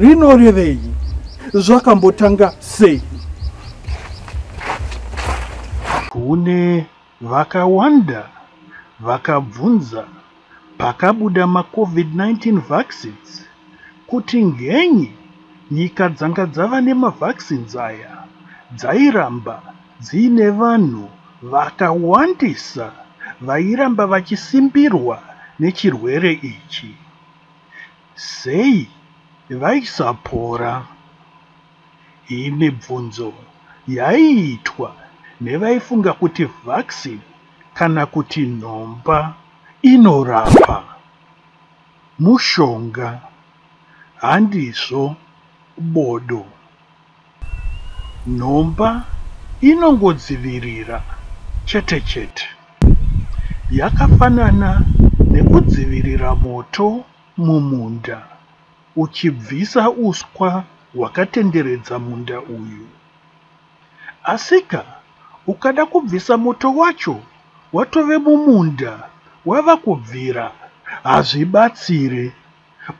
rinorevei zvakambotanga sei kune vakawanda vakabvunza pakabuda macovid-19 vaccines kuti ngenyi nyika dzanga dzava nemavaccines aya dzairamba dziine vanhu vakawandisa vairamba vachisimbirwa nechirwere ichi Sei vaisapora? Iyi mibvunzo yaiitwa nevaifunga kuti vaccine kana kuti nhomba inorapa. Mushonga, handizvo bodo. Nhomba inongodzivirira chete chete. Yakafanana nekudzivirira moto mumunda uchibvisa uswa hwakatenderedza munda uyu. Asika ukada kubvisa moto wacho watove mumunda wava kubvira hazvibatsire.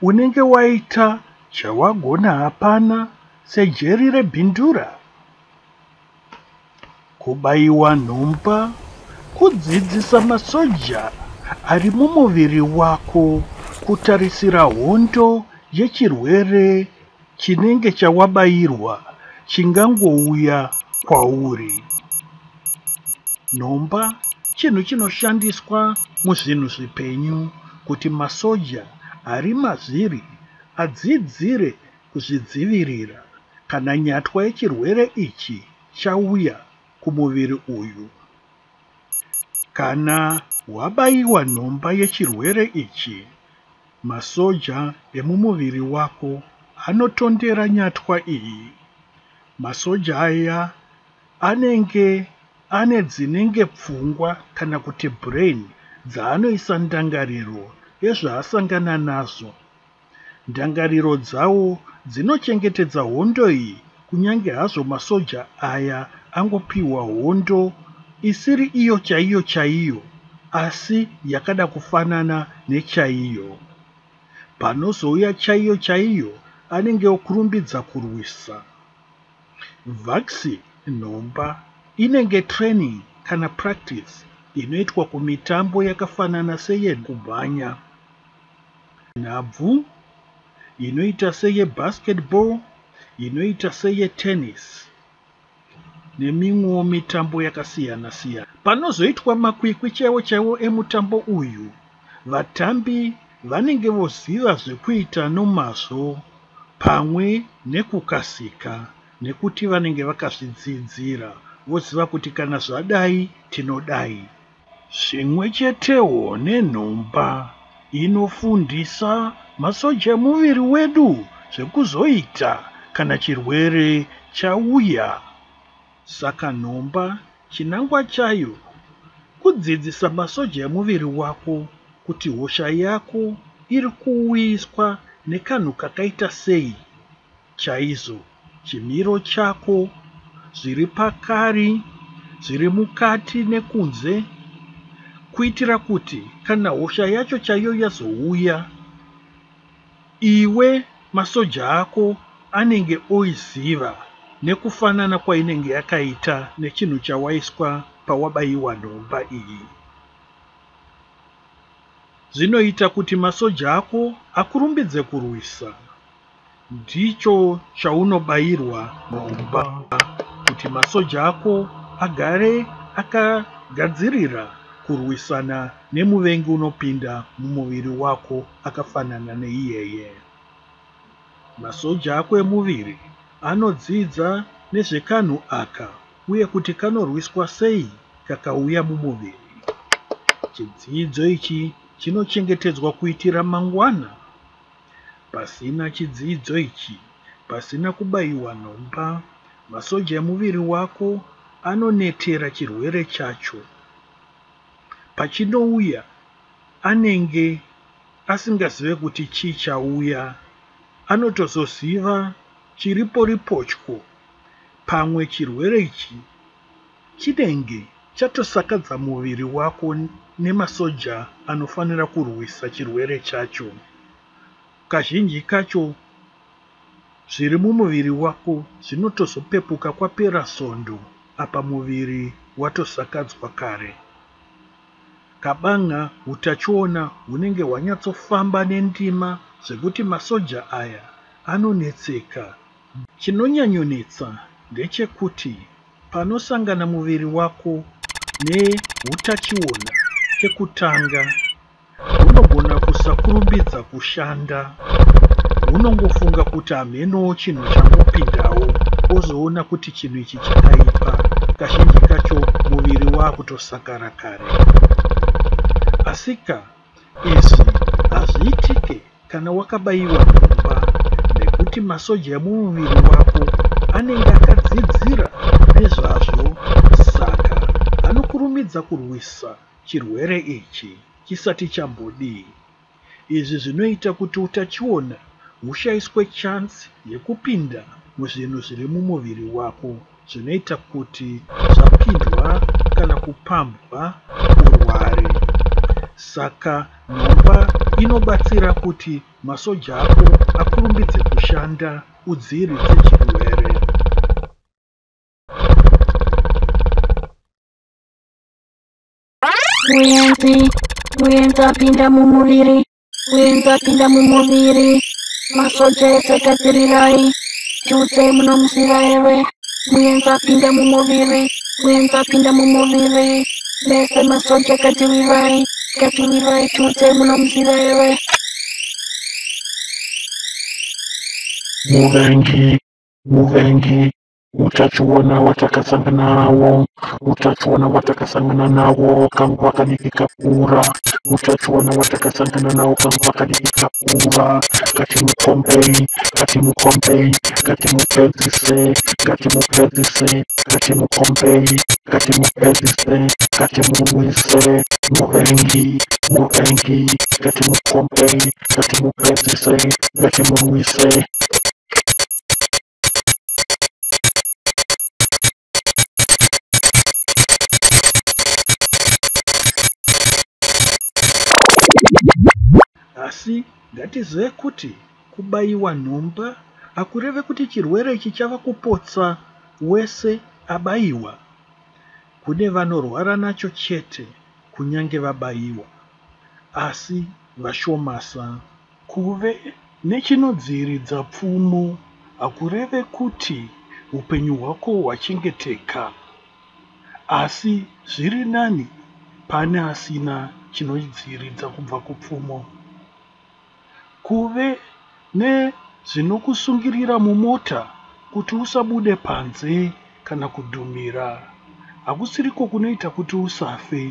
unenge waita chawagona hapana sejeri rebhindura kubaiwa nhomba kudzidzisa masoja ari mumuviri wako kutarisira hondo yechirwere Chinenge chawabairwa chingangouya kwauri. Nhomba chinhu chinoshandiswa muzvinhu zvipenyu kuti masoja ari mazviri adzidzire kuzvidzivirira kana nyatwa yechirwere ichi chauya kumuviri uyu. Kana wabaiwa nhomba yechirwere ichi, Masoja emumuviri wako anotondera nyatwa iyi. Masoja aya anenge ane dzinenge pfungwa kana kuti brain dzaanoisa ndangariro yezvaasangana nazvo. Ndangariro dzawo dzinochengetedza hondo iyi Kunyange hazvo masoja aya angopihwa hondo isiri iyo chaiyo chaiyo asi yakada kufanana nechaiyo. Panozouya chaiyo chaiyo anenge okurumbidza kurwisa. Vaxi nhomba inenge training kana practice inoitwa kumitambo yakafanana seye kumhanya, nhabvu, inoita seye basketball, inoita seyetennis nemimwewo mitambo yakasiyana-siyana. Panozoitwa makwikwi chaiwo-chaiwo emutambo uyu, vatambi vanenge voziva zvekuita nomazvo pamwe nekukasika nekuti vanenge vakazvidzidzira, voziva kuti kana zvadai tinodai. Zvimwe chetewo nenhomba inofundisa masoja emuviri wedu zvekuzoita kana chirwere chauya. Saka nhomba chinangwa chayo kudzidzisa masoja emuviri wako kuti hosha yako iri kuuyiswa nekanhu kakaita sei. chaizvo chimiro chako zviri pakari, zviri mukati nekunze, kuitira kuti kana hosha yacho chaiyo yazouya, iwe masoja ako anenge oiziva nekufanana kwainenge yakaita nechinhu chawaiswa pawabaiwa nhomba iyi. Zvinoita kuti masoja ako akurumbidze kurwisa. Ndicho chaunobayirwa mumba kuti masoja ako agare akagadzirira kurwisana nemuvengi unopinda mumuviri wako akafanana neiyeye. Masoja ako emuviri anodzidza nezvekanhu aka uye kuti kanorwiswa sei kakauya mumuviri. Chidzidzo ichi chinochengetedzwa kuitira mangwana. Pasina chidzidzo ichi, pasina kubaiwa nhomba, masoja emuviri wako anonetera chirwere chacho. Pachinouya, anenge asingazive kuti chii chauya. Anotozoziva chiriporipotyo, pamwe chirwere ichi Chinenge chatosakadza muviri wako nemasoja anofanira kurwisa chirwere chacho. Kazhinji kacho zviri mumuviri wako zvinotozopepuka kwapera svondo apa muviri watosakadzwa kare. Kabanga hutachiona hunenge hwanyatsofamba nendima zvekuti masoja aya anonetseka Chinonyanyonetsa ndechekuti panosangana muviri wako nehutachiona kekutanga, hunogona kusakurumbidza kushanda. Hunongofunga kuti hamhenowo chinhu changopindawo, wozoona kuti chinhu ichi chakaipa, kazhinji kacho muviri waakutosakara kare. Asika, Izvi hazviitike kana wakabaiwa nhomba nekuti masoja emumuviri wako anenge akadzidzira nezvazvo saka anokurumidza kurwisa chirwere ichi chisati chambodii. Izvi zvinoita kuti utachiona hushaiswe chance yekupinda muzvinhu zviri mumuviri wako. zvinoita kuti zvapindwa kana kupambwa urware. Saka nhomba inobatsira kuti masoja ako akurumbidze kushanda udziiridze chirwere. Muyenzi, muyenzi apinda mumuviri. kuenza pinda mumuviri masoja ese gadzirirai chose munomusira ewe muenza pinda mumuviri kuenza pinda mumuviri mese masoja gadzirirai gadzirirai chose munomusira ewe muvengi muvengi utachiona watakasangana nawo utachiona watakasangana nawo kanguva kadiki kakura utachiona watakasangana nawo kanguva kadiki kakura ngatimukombei ngatimukombei ngatimupedzise ngatimupedzise ngatimukombei ngatimupedzise ngatimurwise muvengi muvengi ngatimukombei ngatimupedzise ngatimurwise Asi ngatizive kuti kubaiwa nhomba hakureve kuti chirwere ichi chava kupotsa wese abaiwa. Kune vanorwara nacho chete kunyange vabaiwa, asi vashomasa Kuve nechinodziiridza pfumo hakureve kuti upenyu hwako hwachengeteka, asi zviri nani pane asina chinodziiridza kubva kupfumo. Kuve nezvinokusungirira mumota kuti usabude panze kana kudhumira hakusiriko kunoita kuti usafe,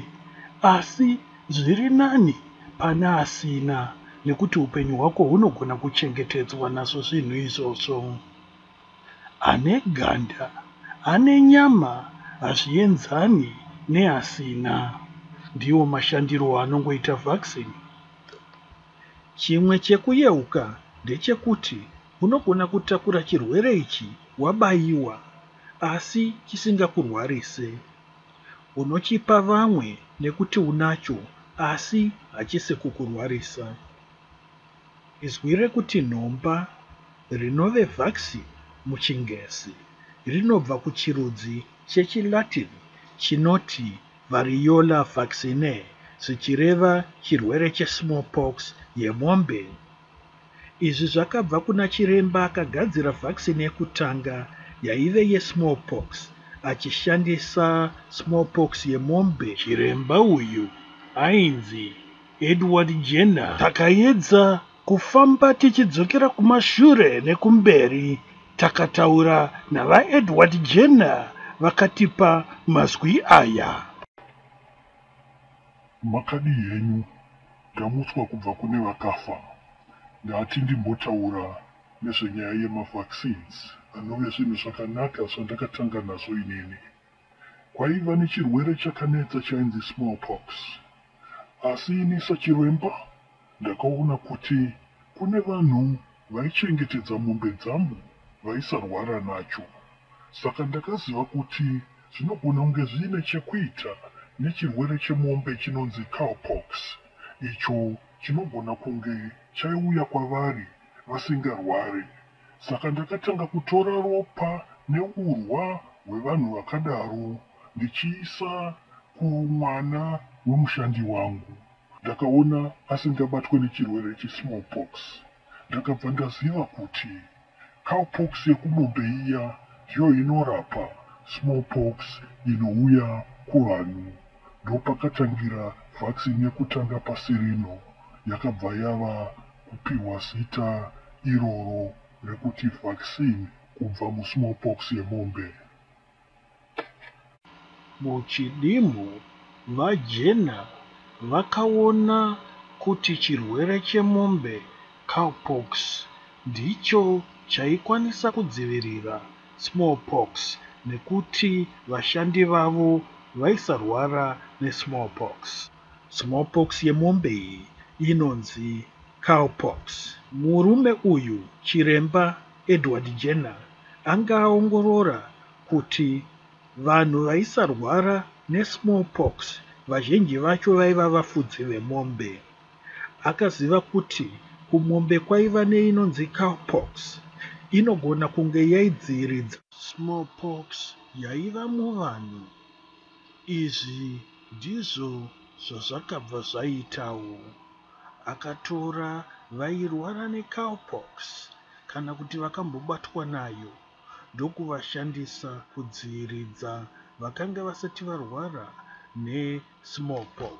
asi Zviri nani pane asina nekuti upenyu hwako hunogona kuchengetedzwa nazvo zvinhu izvozvo. Ane ganda, ane nyama hazvienzani neasina. Ndiwo mashandiro anongoita vaccine. Chimwe chekuyeuka ndechekuti unogona kutakura chirwere ichi wabaiwa asi chisingakurwarise. Unochipa vamwe nekuti unacho asi hachisi kukurwarisa. Izwi rekuti nhomba, rinove vux muchiNgezi, rinobva kuchirudzi chechiLatin chinoti variola vaccinae zvichireva chirwere chesmallpox yemombe Izvi zvakabva kuna chiremba akagadzira vaccine yekutanga yaive yesmallpox achishandisa smallpox yemombe. Chiremba uyu ainzi Edward Jenner. Takaedza kufamba tichidzokera kumashure nekumberi takataura naVaEdward Jenner vakatipa mazwi aya. Makadii henyu Ndamutswa kubva kune vakafa. Ndati ndimbotaura nezvenyaya yema vaccines anove zvinhu zvakanaka zvandakatanga nazvo inini. Kwaiva nechirwere chakanetsa chainzi smallpox asi ini sachiremba ndakaona kuti kune vanhu vaichengetedza mombe dzangu vaisarwara nacho saka ndakaziva kuti zvinogona kunge zviine chekuita nechirwere chemombe chinonzi cowpox icho chinogona kunge chaiuya kwavari vasingarware saka ndakatanga kutora ropa neurwa hwevanhu vakadaro ndichiisa kumwana wemushandi wangu. Ndakaona asingabatwe nechirwere chesmallpox ndakabva ndaziva kuti cowpox yekumombe iya ndiyo inorapa smallpox inouya kuvanhu ndopakatangira vaccine yekutanga pasi rino yakabva yava kupiwa zita iroro rekuti vaccine kubva musmallpox yemombe. Muchidimbu, VaJena vakaona kuti chirwere chemombe, cowpox, ndicho chaikwanisa kudzivirira smallpox nekuti vashandi vavo vaisarwara nesmallpox. Smallpox yemombe iyi inonzi cowpox. Murume uyu, Chiremba Edward Jenner, anga aongorora kuti vanhu vaisarwara nesmallpox vazhinji vacho vaiva vafudzi vemombe. Akaziva kuti kumombe kwaiva neinonzi cowpox inogona kunge yaidziiridza. Smallpox yaiva muvanhu. Izvi ndizvo zvazvakabva zvaitawo. Akatora vairwara necowpox kana kuti vakambobatwa nayo ndokuvashandisa kudziiridza vakanga vasati varwara nesmallpox.